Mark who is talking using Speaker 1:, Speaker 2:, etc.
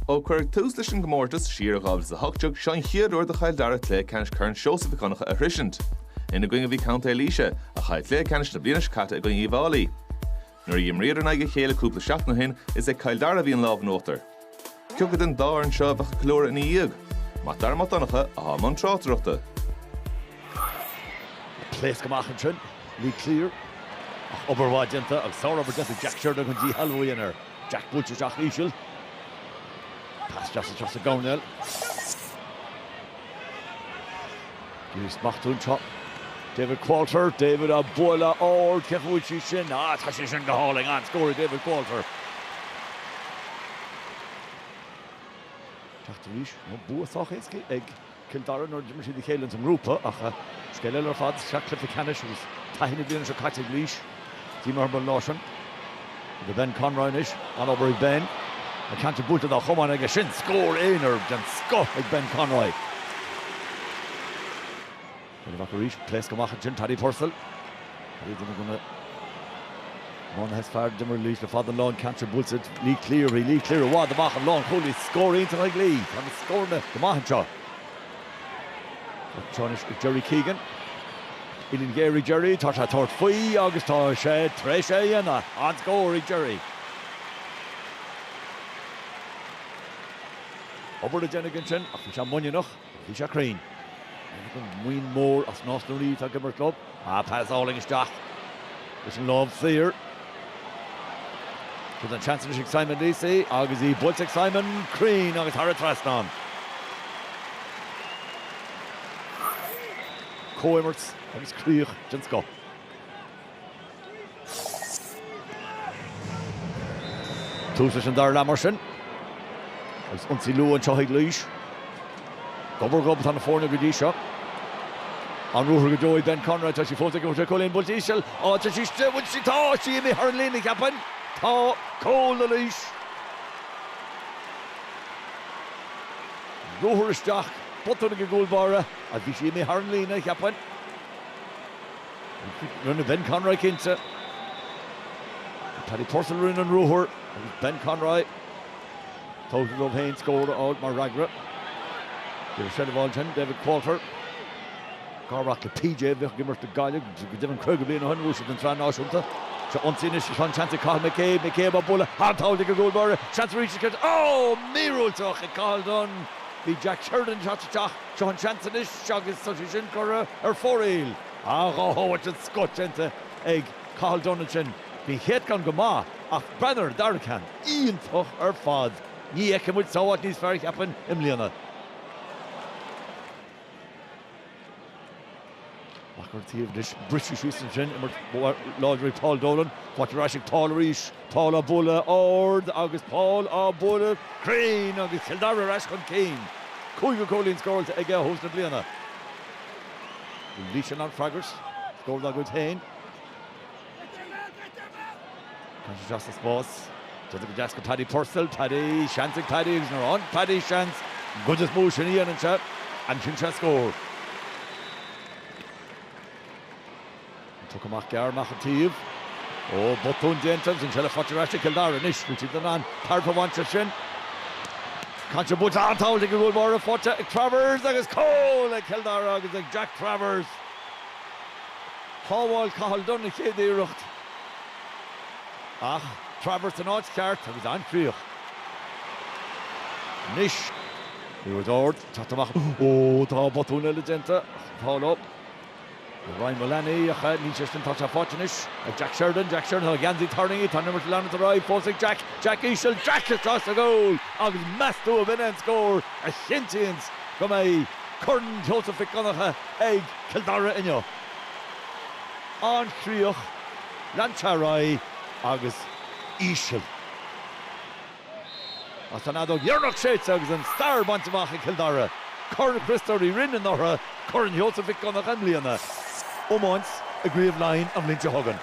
Speaker 1: Ó cuireadh tús leis an gcomórtas siar i 2018, seo an chéad uair do Chill Dara cluiche ceannais Chorn Seosamh Mhic Dhonncha a shroisint. Ina gcoinne a bhí Contae Laoise, a chaill cluiche ceannais na bliana seo caite i gcoinne Uíbh Fhailí. Nuair a dh'imríodar in aghaidh a chéile cúpla seachtain ó shin, is ag Cill Dara a bhí an lámh in uachtar. Cioca den dá fhoireann seo a bheadh ag ceiliúradh ina dhiaidh? Mac Dara Mac Donncha athá i mbun tráchtaireachta. Pléasc amach ansin, Lee Cleere. Ach obair mhaith déanta agus sár-obair déanta ag Jack Sheridan chun díshealbhú a dhéanamh air. Jack buailte isteach íseal. Pas deas isteach sa gcoirnéal. An-smacht anseo. David Qualter. David á bualadh ard. Cén chaoi a bhfuil sí sin? Á, tá sí sin go hálainn. An-scór ag David Qualter. Teacht arís ann, bua sách éasca ag. Cill Dara nuair a d'imir siad a chéile ins an ngrúpa ach scéal eile ar fad is ea cluiche ceannais agus taithí na bliana seo caite ag Laois. Bhí mé thar n-ais ann. Go Ben Conroy anois. An-obair ag Ben. An ceann sin buailte dá chiotóg aige. Sin scór aonair den scoth ag Ben Conroy. Baineadh amach arís. Pléascadh amach ansin. Paddy Purcell, ar ndóigh duine de na iománaithe is fearr a d'imir do Laois le fada an lá, an ceann sin buailte ag Lee Cleere. Lee Cleere i bhfad amach an lánchúlaí Laois. Scór iontach ag Lee. Tá na scóranna go maith anseo. Anseo anois ag Gerry Keegan. Uillinn ghéar ag Gerry. Tá sé ag tabhairt faoi agus tá sé tar éis é a dhéanamh. An-scór ag Gerry. Obair le déanamh ansin ach bhí sé muiníneach. Bhí sé cruinn. Maigh Nuad, An Mhóin Mhór is Nás na Ríogh ag imirt leo. An pas álainn isteach leis an lámh saor. Tá an seans anois ag Simon Leacy agus í buailte ag Simon. Cruinn agus thar an trasnán. Comhimirt agus críoch den scoth. Tús leis an dara leath mar sin agus ionsaí luath anseo ag Laois. Gob ar ghob atá na foirne go dtí seo. An ruathar go deo ag Ben Conroy, tá sé fós ag iarraidh cúilín, buailte íseal á dtreisiú is de bhun sí tá sí imithe thar an líne a cheapfainn. Tá cúl ag Laois. Ruathar isteach, botún ag an gcúl báire agus bhí sí imithe thar an líne a cheapfainn. Rinne Ben Conroy cinnte. Paddy Purcell a rinne an ruathar agus Ben Conroy tábhachtach dóibh aon scór a fháil mar fhreagra. Tá sé le fáil ansin, David Qualter, garmhac le P.J. a bhíodh ag imirt le Gaillimh go deimhin 50 bliain ó shin, bhuaigh sé an tSraith Náisiúnta. Seo ionsaí anois agus tá an seans ag Cathal McCabe, McCabe á bualadh sábháil ag an gcúl báire, seans arís is ceart, oh! míorúilteach ag Cathal Dunne, bhí Jack Sheridan ag teacht isteach. Seo an seans anois agus tá sé sin curtha ar fóraoil. Ah, dhá shábháilt den scoth déanta ag Cathal Dunne ansin. Bhí an chéad cheann go maith ach breathnaigh ar an dara ceann, iontach ar fad. Ní fheicfidh muid sábháilt níos fearr, cheapfainn, i mbliana. Amach an taobh anois, briseadh síos ansin, imirt láidir ag Paul Dolan, faighte ar ais ag Paul arís, Paul á bhualadh ard agus Paul á bhualadh cruinn agus Cill Dara ar ais chun cinn. Cúigiú cúilín scóráilte aige ó thús na bliana. Laois in ann freagairt, scór dá gcuid féin. Tá sé deas sa spás. Déantar go deas go Paddy Purcell. Paddy, seans ag Paddy agus nuair a fhaigheann Paddy seans an chuid is mó sin a dhéanann sé, aimsíonn sé scór. An poc amach gearr amach an taobh. Ó, botún déanta agus an seilbh faighte ar ais ag Cill Dara anois. An mbeidh siad in ann tairbhe a bhaint as sin. Caint ar buailte an-sábháilt ag an gcúl báire faighte ag Travers agus cúl ag Cill Dara agus ag Jack Travers. Shábháil Cathal Dunne a chéad iarracht ach Travers san áit cheart agus an-chríoch. Anois Laois ag iarraidh teacht amach. Ó tá botún eile déanta ach an t-ádh leo. Ryan Mullaney ach níl sé sin tá sé faighte anois ag Jack Sheridan. Jack Sheridan tá a gheansaí tarraingthe tá an imirt ag leanúint ar aghaidh fós ag Jack. Jack íseal Jack tá sé sa goal agus meastú a b'shin é an scór a chinntíonns go mbeidh Corn Sheosaimh Mhic Dhonncha ag Cill Dara inniu. An-chríoch, an-tapaidh agus íseal. Tá an fheadóg dheireanach séidte agus an stair bainte amach ag Cill Dara, Corn Chriostóir Uí Rinn anuraidh, Corn Sheosaimh Mhic Dhonncha i mbliana, iomáint i gCraobh Laighin an bhliain seo chugainn.